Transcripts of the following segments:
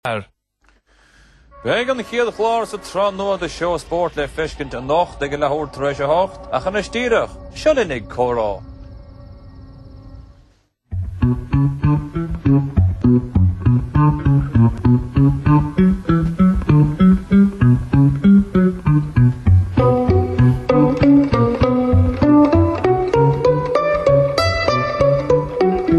Beidh an chéad chlár sa tsraith nua de Seó Spóirt le feiscint anocht ag a leathuair tar éis a hocht, ach anois díreach, seo linn ag Comhrá. Go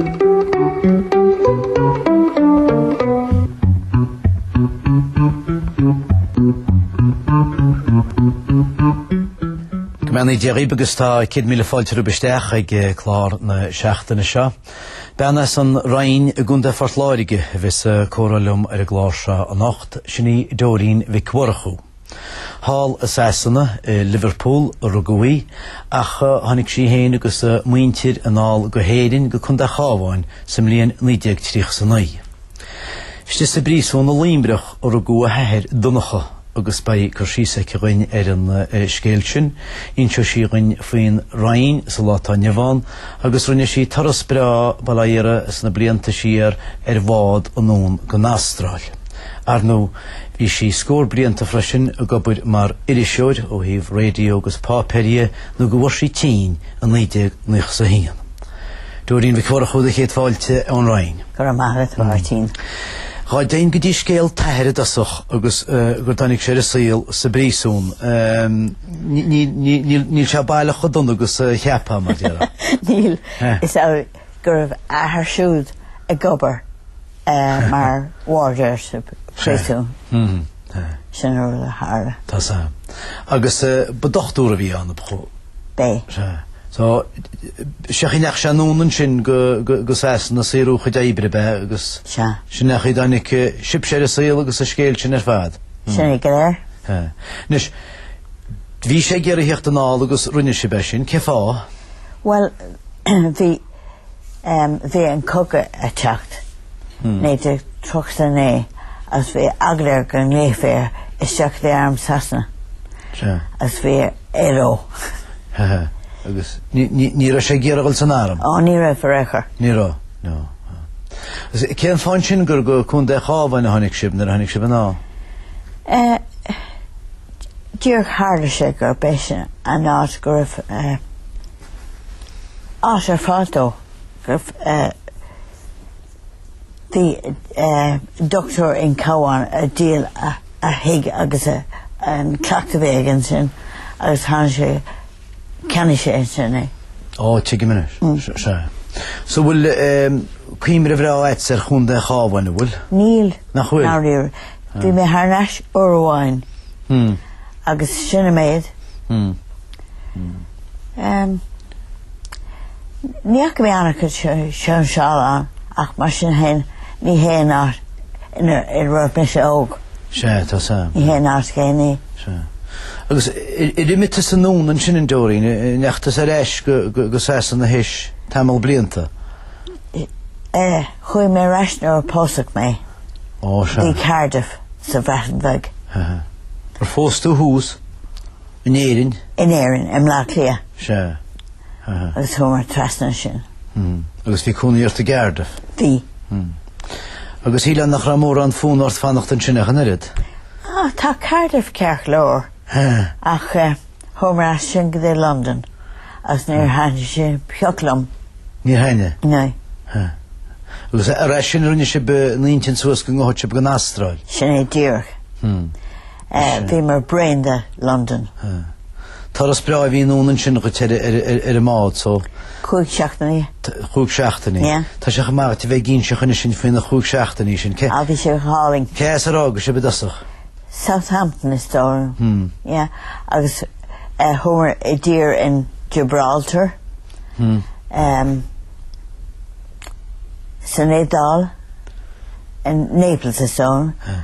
mbeannaí Dia dhaoib agus tá céad míle fáilte romhaibh isteach ag clár na seachtaine seo. Bean as an Rinn i gContae Phort Láirge a bheas ag comhrá liom ar an gclár seo anocht, sin í Dóirín Mhic Mhurchú. Thall i Sasana, i Liverpool, a rugadh í, ach tháinig sí féin agus a muintir anall go hÉirinn, go Contae an Chabháin, sa mbliain 1939. Istigh sa bpríosún i Luimhreach a rugadh a hathair Donncha, agus beidh cur síos aici dhúinn ar an scéal sin. Inseoidh sí dhúinn faoin Rinn sa lá atá inniu ann, agus rinne sí turas breá, bail ó Dhia uirthi, sna blianta siar ar bhád anonn don Astráil. Ar ndú, Bhí sí scór blianta freisin ag obair mar iriseoir ó thaobh raidió agus páipéir dhe nó go bhfuair sí tinn i 1991. Dóirín Mhic Mhurchú do chéad fáilte ón Rinn. Go raibh maith agat, a Mháirtín. Dhá dtéinn go dtí scéal t'athair i dtosach agus go dtáinig sé ar an saol sa bpríosún, níl sé baileach chomh dona agus a cheapfá, mar déarfá. Níl. Is. go raibh a athair siúd ag obair mar Warder sa phríosún. Sin an rud a tharla. Tá sé. Agus ba dochtúir a bhí ann ab ea? B'ea. Sea. So, sé an chaoi a ndeachaigh sé anonn ansin go go Sasana ag saothrú a chuid oibre ab ea agus. Sea. Sin é an chaoi a dtáinig sibhse ar an saol agus an scéal sin ar fad. Sin é go léir. Sea. Anois, bhí sé ag iarraidh theacht anall agus rinne sibh é sin. Cé fáth? Bhuel, bhí ehm bhí an cogadh a' teacht, 1939, agus bhí eagla air go nglaofaí air isteach in arm Sasana. Sea. Agus bhí ar ndó. Ha ha. Agus ní ní raibh sé ag iarraidh dhul san arm? Ó ní raibh ar aon chor. Ní raibh. No. Agus cén fáth ansin gur go Contae an Chabháin a tháinig sibh nuair a tháinig sibh anall? Eh. Díreach tharla sé gurb é sin an áit go raibh áit ar fáil dó, go raibh dochtúir an Chabháin ag díol a thigh agus an cleachtadh a bhí aige ansin agus tháinig sé Ceannaigh sé é sin é. Ó, tuigim anois. Sea. So bhfuil cuimhne bhreá agat ar Chontae an Chabháin, a bhfuil? Níl. Nach bhfuil? Dáiríre. Bhí mé thar n-ais uair amháin agus sin a méid. Ní fhaca mé an-chuid sóinseáil ann ach mar sin féin ní hé an áit. Nuair a bhí mise óg. Sea, tá a fhios agam. Ní hé an áit chéanna é. Sea. Agus ar imigh tusa anonn ansin a Nóirín, ndeachaigh tusa ar ais go Sasana théis tamall blianta? Eh, chuaigh mé ar ais nuair a pósadh mé. Ó, sea. Go dtí Cardiff sa Bhreatain Bheag. Ar phós tú thuas? In Éirinn? In Éirinn, i mBleá Cliath. Sea. Aha. Agus chuamar trasna ansin. Mhm. Agus bhí cónaí ort i gCardiff? Bhí. Mhm. Agus shílfinn nach raibh mórán fonn ort fanacht ansin ach an oiread? Ah, tá Cardiff ceart go leor. Huh. Ach eh, chuamar as sin go dtí Londain agus níor thaitnigh sé pioc liom. Níor thaitnigh? Níor. Huh. Agus tar éis sin rinne sibh a n-intinn suas go ngabhfadh sibh don Astráil? Sin é díreach. Hmm. Bhíomar bréan de Londain. Turas breá a bhí i ndán ansin dhuit ar an mbád so. Cúig seachtainí. Chúig seachtainí. Yeah. Tá sé chomh maith duit a bheith ag inseacht dhúinn anois faoi na chúig seachtainí sin. Cé. Ah bhí sé go hálainn. Cé as ar fhág sibh i dtosach? Southampton is dóigh liom. Yeah. Agus chuamar i dtír in Gibraltar. Em san Iodáil in Naples is dóigh liom.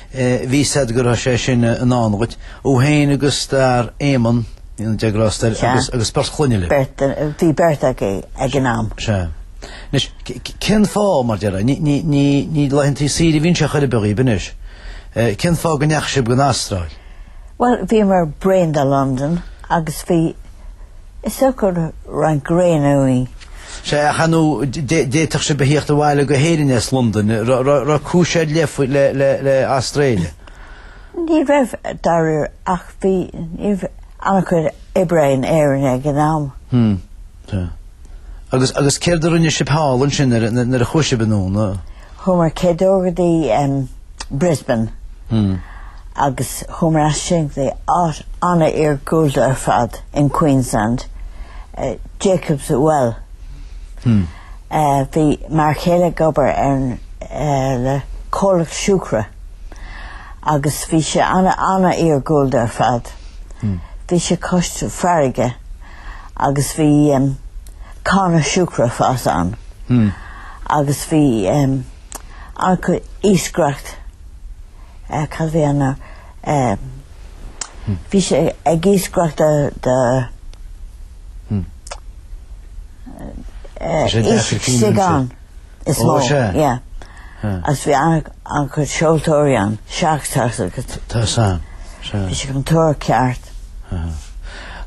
Bhí said go raibh sé sin i ndán dhuit, thú féin agus d'fhear, Éamon, go ndéana Dia grásta air, agus, agus beirt chlainne libh. Beirt, bhí beirt againn ag an am. Sea. Anois, cén fáth, mar a déarfá, ní, ní, ní, ní laethantaí saoire a bhí anseo chor ar bith dhaoib anois. Cén fáth go ndeachaigh sibh don Astráil? Bhuel, bhíomar bréan de Londain agus bhí. Is dócha roinnt gréine uainn. Sea, ach ar ndóigh, d'fhéadfadh sibh a thíocht abhaile go hÉirinn as Londain, raibh cúis ar leith faoi, le, le, le Australia? Ní raibh, dáiríre, ach bhí, ní raibh an-chuid oibre in Éirinn ag an am. Hmm, sea. Agus, agus céard a rinne sibh thall ansin nuair a, nuair a chuaigh sibh anonn? Chuamar chéad uair go dtí Brisbane agus chuamar as sin go dtí áit an-iargúlta ar fad in Queensland, Jacob's Well. Bhí m'fhear céile ag obair ar le comhlacht siúcra agus bhí sé ana ana-iargúlta ar fad. Bhí sé cois farraige. agus bhí em cána siúcra ag fás ann hmm. agus bhí em an-chuid iascaireacht eh, cad a bhí ann hmm. bhí sé ag iascaireacht de de hmm. eh, eh, sé gan. is mó. Ó, sea. Yeah. Sea. Agus bhí an-chuid an-chuid seoltóirí ann, seacht seacht agus. Tá, sea, sea. Bhí siad chun tóir ceart. Aha.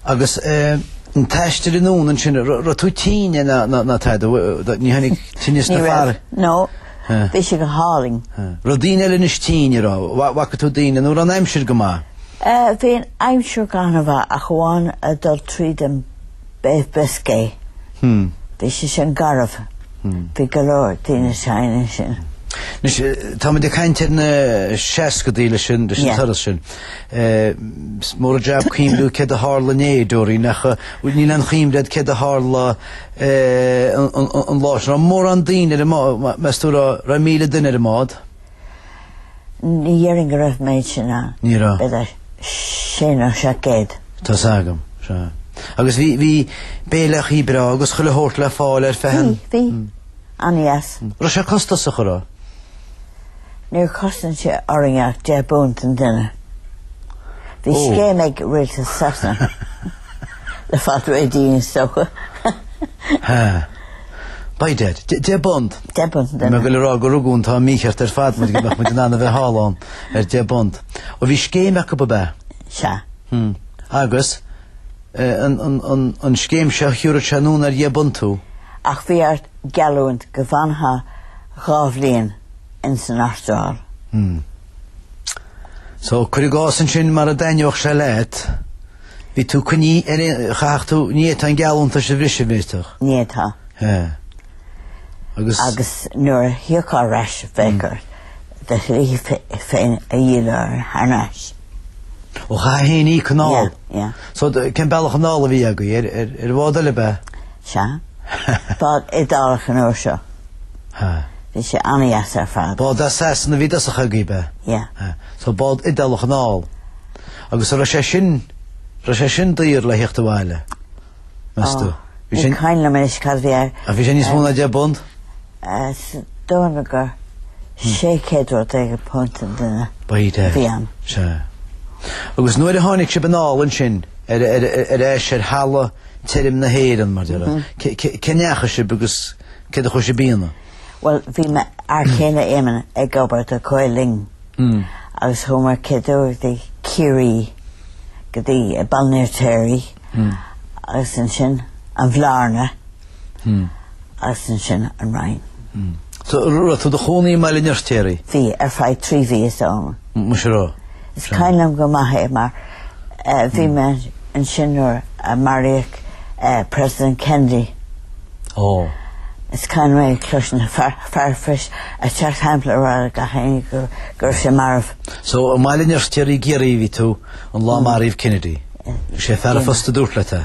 Agus eh, an t-aistear anonn ansin, ra- raibh tú tinn ná, ná, ná tada, bh- ní tháinig tinneas Ní na raibh. fear? No. Eh. Bhí sé go hálainn. Eh. Raibh daoine eile anois tinn a raibh? Bha- bhfaca tú daoine nó raibh an aimsir go maith? Eh, bhí an aimsir go han-mhaith ach amháin a dul tríd an Bay of Biscay. Bhí sé sin garbh. Bhí go leor daoine tinn ansin. Anois, táimid ag caint ar na seascadaí leis sin, leis an turas sin. Is mór an jab cuimhniú céard a tharla inné, Doreen, ach níl aon chuimhne agat céard a tharla an lá sin. Mórán daoine ar an mbád, meas tú raibh míle duine ar an mád? Ní dhéarfainn go raibh an méid sin ann. Ní raibh. B'fhéidir sé nó seacht gcéad. Tá a fhios agam, sea. Agus bhí, bhí béileachaí breá agus chuile shórt le fáil ar feadh an. Bhí, bhí. An-dheas. Raibh sé costasach a raibh? Níor chosain sé orainn ach deich bpunt an duine. Bhí scéim ag Rialtas Sasana le fáil réidh dínn is dócha. Ha. By dad. Deich bpunt. Deich bpunt, Bhí mé ag goil a rá go rugadh an t-am mícheart ar fad muid go mbeadh muid in ann a bheith thall ann ar deich bpunt. Ó bhí scéim acu ab ea? Sea. Hm. Agus, an scéim seo thiúrfadh sé anonn ar dheich bpunt thú? Ach bhí ort geallúint go bhfanfá dhá bhliain ins an Astráil. Hm. So, cuir i gcás ansin mura dtaitneodh sé leat, bhí tú coinnithe ar aon, chaithfeadh tú, ní fhéadfá an geallúntas a bhriseadh, bhféadfadh? Ní fhéadfá. Sea. Agus. Agus nuair a thiocfá ar ais bheadh ort do shlí féin a dhíol air thar n-ais. Ó chaithfeá féin íoc anall. Yeah, yeah. So, cén bealach anall a bhí agaibh? Ar bhád eile ab ea? Sea. Bád Iodálach an uair seo. Ha. Bhí sé an-dheas ar fad. Bád as Sasana a bhí i dtosach agaibh, ab ea? Yeah. Ha. So bád Iodálach anall. Agus a raibh sé sin, raibh sé sin daor le theacht abhaile? Meas tú? Bhí sé... Ní cuimhin liom anois cad a bhí ar... A bhí sé níos mó na deich bpunt? Is dóigh go raibh sé céad rud éigin punt an duine. By dad. Bhí an. Sea. Agus nuair a tháinig sibh anall ansin, ar, ar, ar, ar ais ar thalamh tirim na hÉireann, mar a déarfá. Cá ndeachaigh sibh agus Cá dtí a chuaigh sibh blianta ann? Bhuel, bhí m'fhear céile Éamon ag obair do Gael Linn agus chuamar ar dtúis go dtí Ciarraí, go dtí Baile an Fheirtéaraigh agus ansin an Bhlarna agus ansin an Rinn. So, raibh tú do chónaí i mBaile an Fheirtéaraigh? Bhí, ar feadh trí mhí is dóigh liom. Muise raibh. Is cuimhin liom go maith é mar bhí mé ansin nuair a maraíodh President Kennedy. Is cuimhin liom mé ag cloisint fear an phoist ag teacht chun a rá le gach éinne go raibh sé marbh. So i mBaile an Fheirtéaraigh i gCiarraí a bhí tú an lá a maraíodh Kennedy. Is é fear an phosta a dúirt leat é.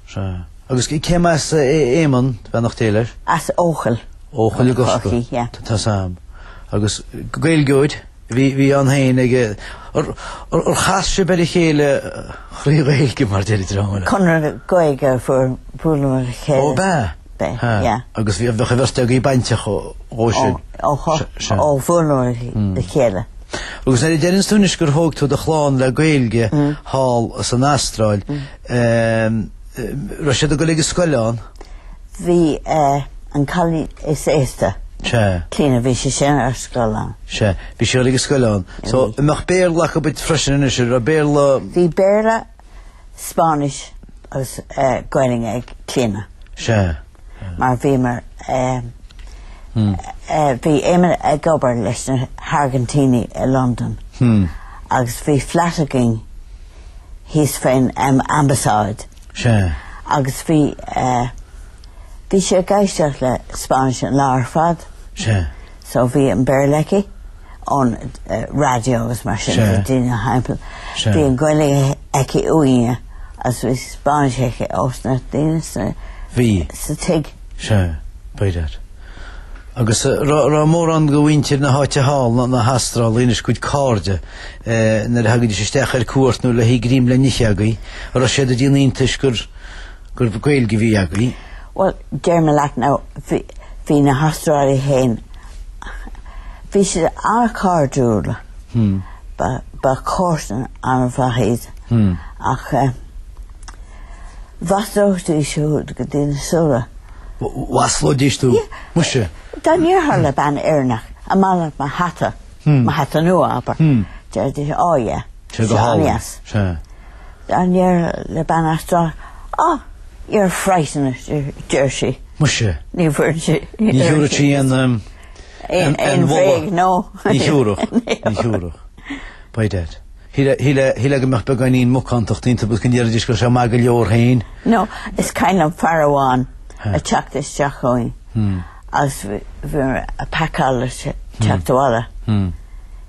Sea. Agus cé mba as Éamonn, beannacht Dé leis? As Eochaill. Eochaill i gCorcaigh. Chorcaí, yeah. Tá a fhios agam. Agus Gaeilgeoir a bhí bhí ann féin ag ar ar chas sibh ar a chéile trí Ghaeilge mar a déarfá? Conradh na Gaeilge a bhuaileamar ar a chéile. Ó b'ea? B'ea, Ha. yeah. Agus bhí an bheirt agaibh bainteach ó ó Ó, sin. ó, ho, Se- se- ó bhuaileamar le chéile. Agus deireann tú anois gur thóg tú do chlann le Gaeilge thall san Astráil. Ehm, raibh siad ag dul ag an scoil ann? Bhí eh, an cailín is aosta. Sea. Clíona, bhí sí sin ar scoil ann. Sea, bhí sí ag an scoil ann. So, an mbeadh Béarla acu bit freisin anois, raibh Béarla... Bhí Béarla, Spáinnis agus eh, Gaeilge ag Clíona. Sea. mar bhíomar bhí Éamon ag obair leis na hAirgintíní i Londain agus bhí flat againn thíos fén Ambasáid agus bhí bhí sí ag éisteacht le Spáinnis an lá ar fad So bhí an Béarla aici ón radio agus mar sin de, daoine timpeall. Bhí an Gaeilge aici uainne agus bhí Spáinnis aici ós na daoine sa tigh. Sea, ab fhéidir. Agus raibh mórán de mhuintir na háite thall, na hAstrálaigh anois, bhur gcuid cairde, nuair a thagaidís isteach ar cuairt nó le haghaidh greim le n-ithe agaibh, raibh siad ag déanamh iontais gur, gur Gaeilge a bhí agaibh. Bhuel, déarfaidh mé leat now, bhí na hAstrálaigh fhéin, bhí siad an-chairdiúil, ba chomharsain an-mhaith iad, ach eh, mhaslóidís tú go dtí na súile. Mhaslóidís tú? Muise! Dá ndéarfá le bean Éireannach, an maith leat mo hata, mo hata nua abair, déarfaidís, oh yeah, tá sé an-deas. A ndéarfá le bean Astráil you're frightened, deir sí. Muise. Ní bhfuil sí. Ní thiúrfadh sí aon aon aon bhréag, no. Ní thiúrfadh. Ní thiúrfadh. By that. Shíl é go mbeadh beagáinín macántacht iontu agus go ndéarfaidís go bhfuil sé maith go leor féin. No, it's kind of fear amháin ag teacht isteach ann agus bhí ag pacáil ag teacht abhaile.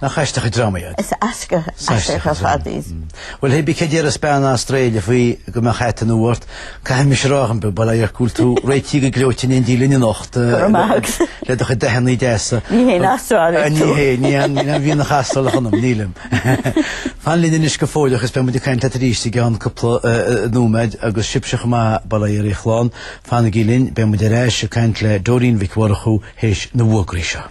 Nach aisteach an dream iad. Is aisteach aisteach fad iad. Bhuel hé b'fhéidir go n-iarrfas bean Astráile faoi go mbeadh hait an-mhór uirthi. Caithfidh mise rádh an bealach a bhfuil tú réitithe go gleoite in éindí linn anocht le do chuid dathannaí deasa. Ní haon Astrálach tú. Ní hea, níl aon mhianach Astrálach ionam, nílim. Fan linn anois go fóilleach is beimid ag caint leat arís i gceann cúpla nóiméad agus sibhse chomh maith sa mbaile ar ndóigh linn. Fanaigí linn, beimid ar ais ag caint le Dóirín Mhic Mhurchú théis na bhfuagraí seo.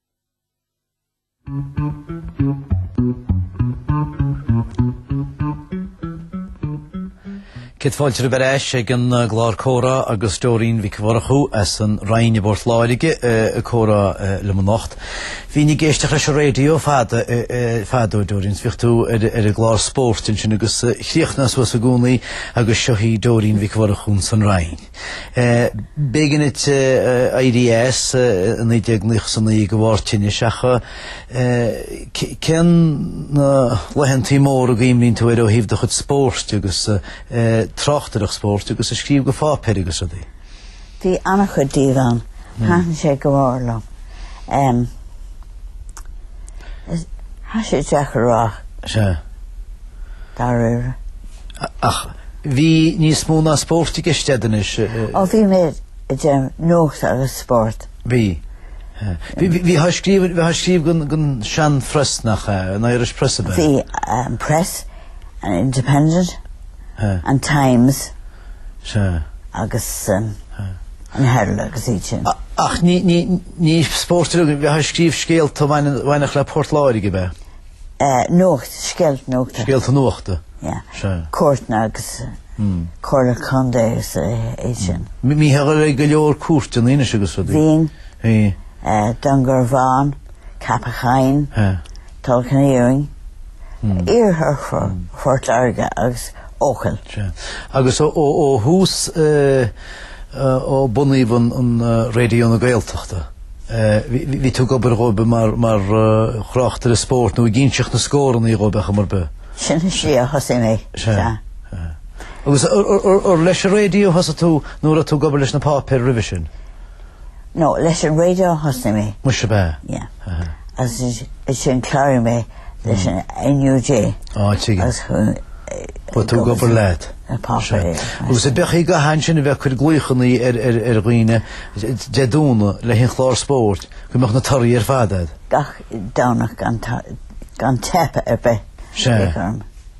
Céad fáilte ar ais ag an gclár Comhrá agus Dóirín Mhic Mhurchú as an Rinn i bPort Láirge ag comhrá liom anocht. Bhínn ag éisteacht leis an raidió fadó a Dhóirín is bhíodh tú ar an gclár spóirt ansin agus chríochnaíteá suas i gcónaí agus seo í Dóirín Mhic Mhurchú ins an Rinn. B'éigin duit éirí as i 1999 de bharr tinnis ach cén na laethantaí móra a gcuimhníonn tú air ó thaobh do chuid spóirt agus tráchtaireacht spóirt agus ag scríobh go pháipéir agus rudaí? Bhí ana-chuid díobh ann. Thaitin sé go mór liom. Tá sé deacair a rá. Sea. Dáiríre. Ach bhí níos mó ná spórt i gceist a'd anois. Ó bhí mé ag déanamh nuacht agus spórt. Bhí. Bhí tú ag scríobh bhí tú ag scríobh gon gon sean phreas nach ea, an Irish Press a b'ea? Bhí an Press, an Independent, an Times. Sea. Agus an Herald agus iad sin. Ach ní ní ní spórt a bhí tú ag scríobh scéalta bhaineann bhaineach le Port Láirge a b'ea? nuacht, scéalta nuachta. Scéalta nuachta. Yeah. Cúirteanna agus comhairle contae agus iad sin. Bhítheá ag go leor cúirteanna anois agus rudaí. Bhínn. Bhí. Dún Garbhán, Ceapach Choinn, Tulach an Iarainn, iarthar Phort Láirge agus Eochaill. Sea. Agus ó thús. Ó bunaíodh an Raidió na Gaeltachta, bhí tú ag obair dhóibh mar thráchtaire spóirt nó ag inseacht na scóranna dhóibh ar chuma ar bith? Sin is ea, thosaigh mé, sea. Agus ar leis an raidió thosaigh tú nó raibh tú ag obair leis na páipéir roimhe sin? No, leis an radio a thosaigh mé. Muise ab ea? Yeah. Aha. Agus ansin chláraigh mé leis an NUJ. Á, tuigim. Agus chuaigh. Bhuail tú ag obair leat. An Pápa é. Agus a b'éigean dom ansin a bheith ag cur glaochannaí ar dhaoine Dé Domhnaigh le haon chlár spóirt go mbeadh na torthaí ar fad a'd. Gach Domhnach gan teip ar bith, b'fhéidir orm.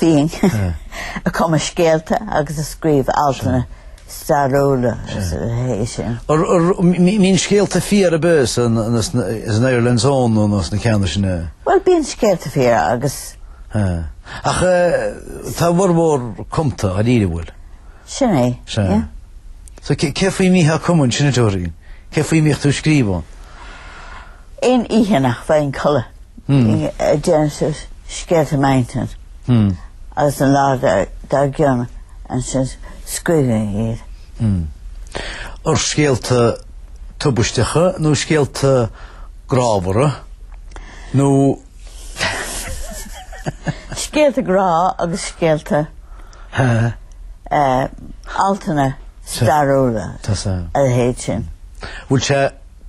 Bhínn ag cumadh scéalta agus ag scríobh altanna stairiúla a leithéid sin. An mbíonn scéalta fíor ar bith san Ireland's Own nó na ceanna sin a. Bhuel bíonn scéalta fíor agus. Ach tá a bhformhór cumtha dáiríre, an bhfuil. Sin é, yeah. So cé faoi a mbítheá ag cumadh ansin a Dóirín? Cé faoi a mbíodh tú ag scríobh ann? Aon oíche nach bhfaighinn codladh dhéanainn suas scéalta i m'intinn agus an lá dár gcionn ansin scríobhainn iad. Ó scéalta tubaisteacha nó scéalta grámhara nó. Scéalta grá agus scéalta altanna stairiúla a leithéid sin. Bhfuil sé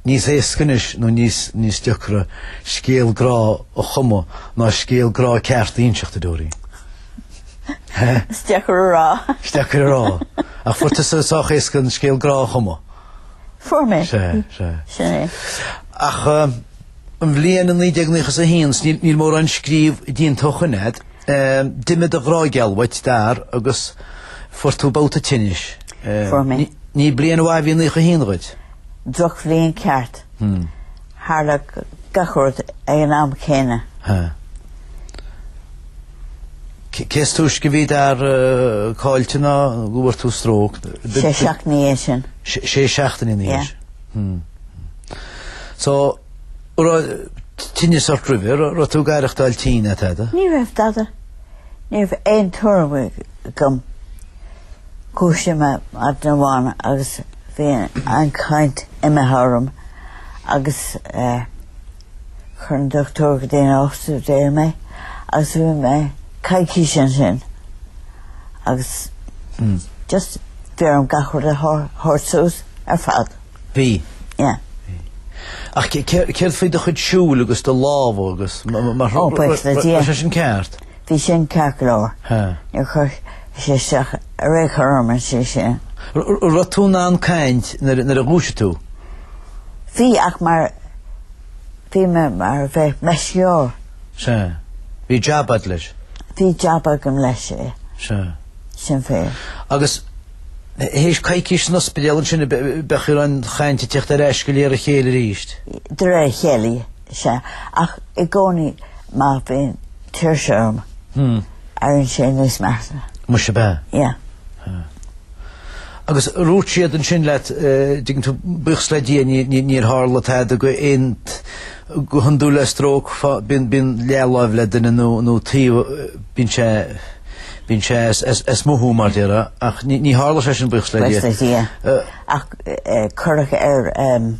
Níos éasca anois nó níos níos deacra scéal grá a chumadh ná scéal grá ceart a inseacht a Dóirín. Hé? Is deacair a rá. Is deacair a rá. Ach fuair tusa sách éasca an scéal grá a chumadh. Fuair mé. Sea, sea. Sin é. Ach an bhliain 1991 is níl níl mórán scríobh déanta ó shoin a'd. D'imigh do ghrá geal uait, d'fhear, agus fuair tú babhta tinnis. Fuair mé. Ní bliain mhaith a bhí 91 dhuit. drochbhliain ceart. Tharla gach rud ag an am céanna. Cé is túisce a bhí d'fhear caillte nó go bhfuair tú stróc. Sé seachtainí ina dhiaidh sin. Sé seachtainí ina dhiaidh sin. So raibh tinneas ort roimhe, raibh tú ag aireachtáil tinn, tada? Ní raibh, tada. Ní raibh aon tuairim agam Dhúisigh mé maidin amháin agus bhí an chaint imithe orm agus chuir an doctúir go dtí an ospidéal mé agus bhí mé coicís ansin agus just bhí orm gach rud a thabhairt suas ar fad. Bhí. Yeah. Ach céard faoi do chuid siúil agus do lámha agus mar seo? Ó, buíochas le Dia. Tá siad sin ceart. Bhí sin ceart go leor. Níor chuir sé isteach ar aon chor orm, sé sin. Raibh tú in ann caint nuair a dhúisigh tú? Bhí, ach mar, bhí mé mar a bheadh meisceoir. Sea. Bhí jab a'd leis? Bhí jab agam leis, é. Sea. Sin é. Agus th'éis coicís san ospidéal ansin, bheadh an chaint ag teacht ar ais go léir a chéile arís? De réir a chéile. Sea, ach i gcónaí má bhíonn tuirse orm, éiríonn sé níos measa. Muise ab ea. Yeah. Agus ar dhúirt siad ansin leat, eh, dtuigeann tú, buíochas le Dia ní- ní- níor tharla tada go aon- go hiondúil le stróc fá- bíonn- bíonn leathláimh le duine nó- nó taobh, eh, bíonn sé- bíonn sé as- as- as mothú mar déarfá, ach ní- ní tharla sé sin buíochas le Dia. Buíochas le Dia. Eh, Ach eh, cuireadh ar, em,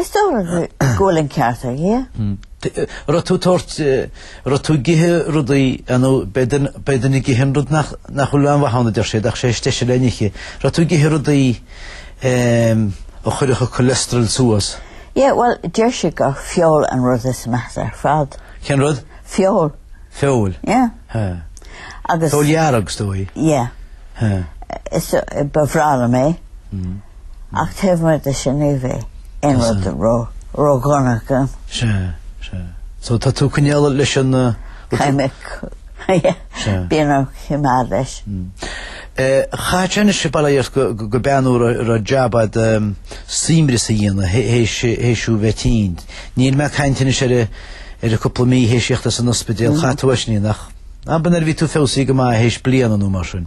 Is dóigh liom go bhfuil an ceart aige. Raibh tú tabhairt, raibh tú ag ithe rudaí, nó b'fhéidir ag ithe an rud nach bhfuil aon mhaith ann a deir siad ach sé is deise le n-ithe. Raibh tú ag ithe rudaí a chuirfeadh an cholesterol suas? Yeah, bhuel, deir siad gur feoil an rud is measa ar fad. Cén rud? Feoil. Feoil? Yeah. Agus... Feoil dhearg is dóigh? Yeah. Is ba bhreá liom é. Ach taobh amuigh de sin ní bheadh aon rud ró-dhona agam. Sea, sea. So tá tú ag coinneáil leis an rud a. Ceimic. Sea. Bím ag coimeád leis. Chaith tú anois bail ó Dhia ort go b'ea nó raibh jab a'd suaimhneas a dhéanamh th'éis thú bheith tinn. Níl mé ag caint anois ar ar cúpla mí th'éis a thíocht as an ospidéal. Chuaigh tú ar ais ní, nach? Ab in nuair a bhí tú feabhsaithe go maith th'éis bliain nó mar sin.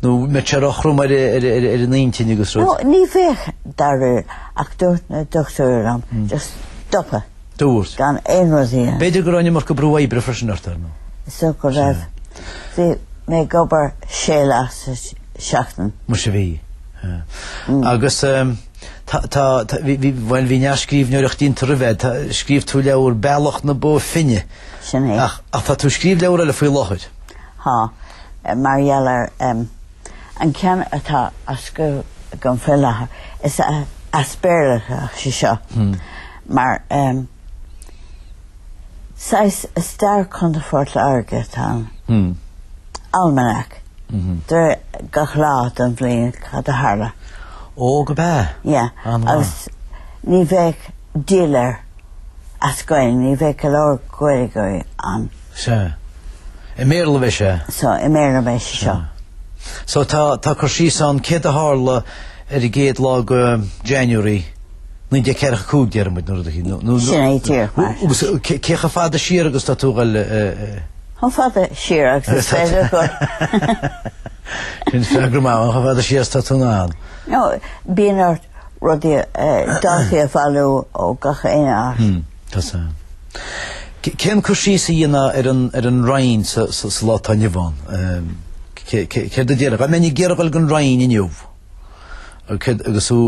Nó an mbeadh sé róthrom ar an intinn agus rud. No, ní bheadh dáiríre ach dúirt na dochtúirí liom just stop it. Dúirt. Gan aon rud a dhéanamh. B'fhéidir go raibh an iomarca brú oibre freisin ort ar ndóigh. Is dócha go raibh. Bhí mé ag obair sé lá sa tseachtain. Muise bhí. Agus tá, bhí, bhuel bhí neart scríbhneoireacht déanta roimhe a'd. Scríobh tú leabhar Bealach na Bó Finne. Sin é. Ach tá tú ag scríobh leabhar eile faoi láthair. ha, mar gheall ar an ceann atá á scríobh agam fé láthair, is as Béarla atá sé seo, mar saghas Stair Chontae Phort Láirge atá ann. Almanac. Deir gach lá don bhliain cad a tharla. Ó, go b'ea. Yeah. Agus ní bheadh díol air as Gaeilge, ní bheadh go leor Gaeilgeoirí ann. Sea. I mBéarla a bheidh sé. Sea, i mBéarla a bheidh sé seo. So tá, tá cur síos ann céard a tharla ar an gcéad lá go January 1945 deir muid nó rud éicint nó nó Sin é tír. Agus cé chomh fada siar agus atá tú ag goil Chomh fada siar agus is féidir go. Sin freagra maith chomh fada siar atá tú in ann. No, bíon ort Rudaí a d'fhéadfaí a bhailiú ó gach aon áit. Tá sé. Cén cur síos a dhéanfá ar an Rinn sa lá atá inniu ann? Céard a déarfá? Dá mbeinn ag iarraidh dul go dtí an Rinn inniu agus thú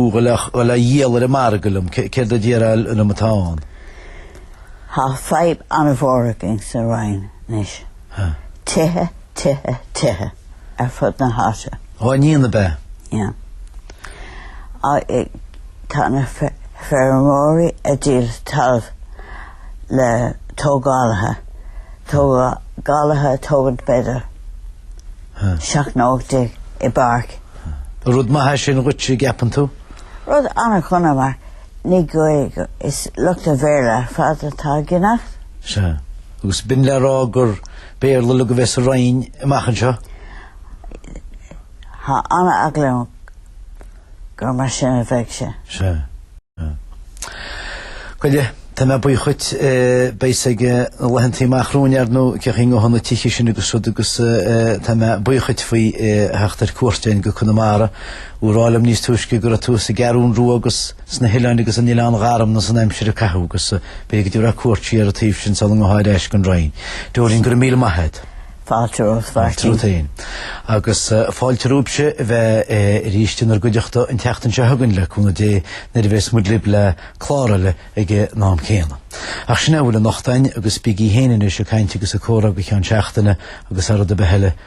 ag dul á dhíol ar an margadh liom, céard a déarfá liom atá ann? Tá fadhb an-mhór againn sa Rinn anois. Tithe tithe, tithe ar fud na háite. Dá ndéanamh ab ea? Yeah. Tá na feirmeoirí ag díol talamh le tógálaithe, tógálaithe ag tógaint b'fhéidir seacht nó hocht déag i bpáirc. Rud maith é sin dhuit, an gceapann tú? Rud an-dhona mar ní Gaeilge, is lucht an Bhéarla ar fad atá ag teacht. Sea. Agus b'in le rá gur. Béarla atá le bheith sa Rinn amach anseo. Tá an-eagla liom gur mar sin a bheidh sé. Sea. Bhuel, tá mé buíoch dhuit. Beidh fhios againn sna laethanta amach romhainn ar ndóigh cén chaoi a ngabhfaidh na tithe sin agus rud agus tá mé buíoch dhuit faoi theacht ar cuairt againn go Conamara. Dúirt tú liom níos túisce go raibh tú sa gCeathrún Rua agus. sna hoileáin agus in Oileán Gharmna san aimsir a caitheadh agus b'fhéidir go dtabharfá cuairt síos ar an taobh sin sula ngabhfá ar ais go dtí an Rinn. Dóirín go raibh míle maith a't. Fáilte romhat Mháirtín. Fáilte romhat féin. Agus fáilte romhaibhse a bheith arís inár gcuideachta an tseachtain seo chugainn le cúnamh Dé nuair a bheas muid libh le clár eile ag an am céanna. Ach sin é a bhfuil anocht againn agus bígí féin anois ag caint agus ag comhrá go ceann seachtaine agus thar rud ar bith eile,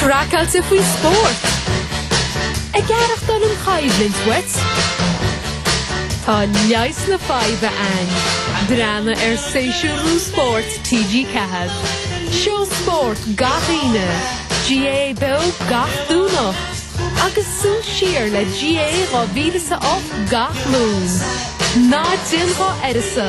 Craiceáilte faoi spórt. Ag aireachtáil an choimhlint uait? Tá leigheas na faidhbe ann. Breathnaigh ar shéasúr nua spóirt TG4. Seó spóirt gach Aoine, GAA beo gach Domhnach agus súil siar le GAA 2008 gach Luan. Ná déan dhá uireasa!